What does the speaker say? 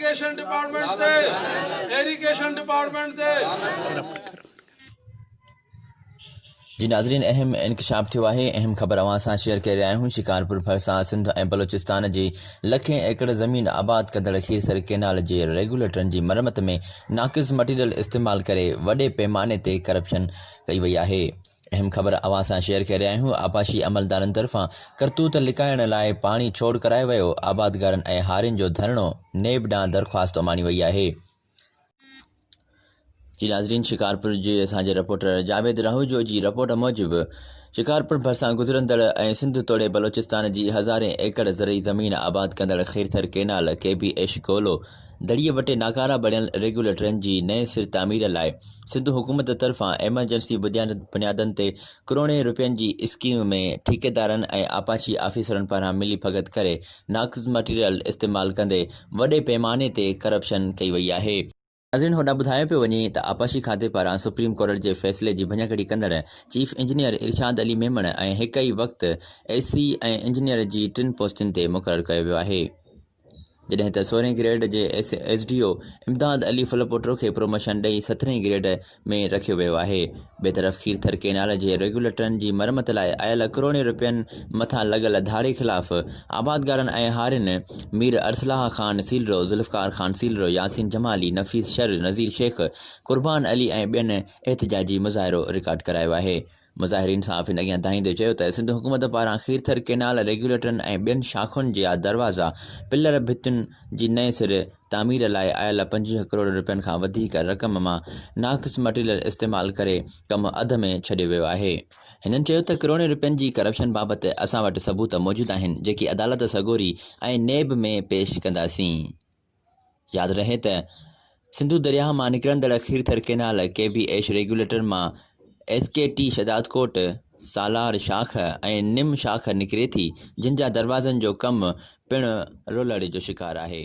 Irrigation department تي irrigation department تي جي ناظرين اهم انڪشاف ٿيو آهي اهم خبر اوهان سان شيئر ڪري رهيا آهيون شڪارپور ڀرسان سنڌ ۽ بلوچستان جي لکين ايڪڙ زمين آباد ڪندڙ کيرٿر ڪينال جي ريگوليٽرن جي مرمت ۾ ناقص مٽيريل استعمال ڪري وڏي پيماني تي ڪرپشن ڪئي وئي آهي اهم خبر اوهان سان شيئر ڪري رهيا آهيون آبپاشي عملدارن طرفان ڪرتوت لڪائڻ لاء پاڻي ڇوڙ ڪرايو ويو آبادگارن ۽ هارين جو ڌرڻو نيب ڏانهن درخواست اماڻي وئي آهي. جي ناظرين شڪارپور جي اسان جي رپورٽر جاويد راهوجو جي رپورٽ موجب شڪارپور ڀرسان گذرندڙ ۽ سنڌ توڙي بلوچستان جي هزارين ايڪڙ زرعي زمين آباد ڪندڙ خيرٿر ڪينال ڪي بي ايش گولو دڙي وٽي ناڪارا بڻيل ريگيوليٽرن جي نئين سر تعمير لاء سنڌ حڪومت طرفان ايمرجنسي بنيادن تي ڪروڙين رپين جي اسڪيم ۾ ٺيڪيدارن ۽ آپاشي آفيسرن پاران ملي ڀڳت ڪري ناقص مٽيريل استعمال ڪندي وڏي پيماني تي ڪرپشن ڪئي وئي آهي. ناظرين هوڏانهن ٻڌايو پيو وڃي ته آپاشي کاتي پاران سپريم ڪورٽ جي فيصلي جي ڀڃڪڙي ڪندڙ چيف انجنيئر ارشاد علي ميمڻ ۽ هڪ ئي وقت اي سي ۽ انجنيئر جي ٽن پوسٽن تي مقرر ڪيو ويو آهي. جڏهن ته سورهين گريڊ جي S D O Imdad Ali Phulpoto کي پروموشن ڏئي سترهين گريڊ ۾ رکيو ويو آهي. ٻئي طرف کيرٿر ڪينال جي ريگيوليٽرن جي مرمت لاء آيل ڪروڙين رپين مٿان لڳل ڌاڙي خلاف آبادگارن ۽ هارين مير ارسلاح خان سيلرو، ذوالفقار خان سيلرو، ياسين جمالي، نفيس شر، نذير شيخ، قربان علي ۽ ٻين احتجاجي مظاهرو رڪارڊ ڪرايو آهي. مظاهرين صحافين اڳيان دانهيندي چيو ته سنڌ حڪومت پاران کيرٿر ڪئنال ريگيوليٽرن ۽ ٻين شاخن جيا دروازا، پلر ڀتين جي نئين سر تعمير لاء آيل پنجويهه ڪروڙ رپين کان وڌيڪ رقم مان ناقص مٽيريل استعمال ڪري ڪم اڌ ۾ ڇڏيو ويو آهي. هنن چيو ته ڪروڙين رپين جي ڪرپشن بابت اسان وٽ ثبوت موجود آهن جيڪي عدالت سڳوري ۽ نيب ۾ پيش ڪنداسين. ياد رهي ته سنڌو درياهه مان نڪرندڙ کيرٿر ڪينال ڪي بي ايش ريگيوليٽر مان ايس ڪي ٽي شهدادڪوٽ سالار شاخ ۽ نم شاخ نڪري ٿي جن جا دروازن جو ڪم پڻ رولڙي جو شڪار آهي.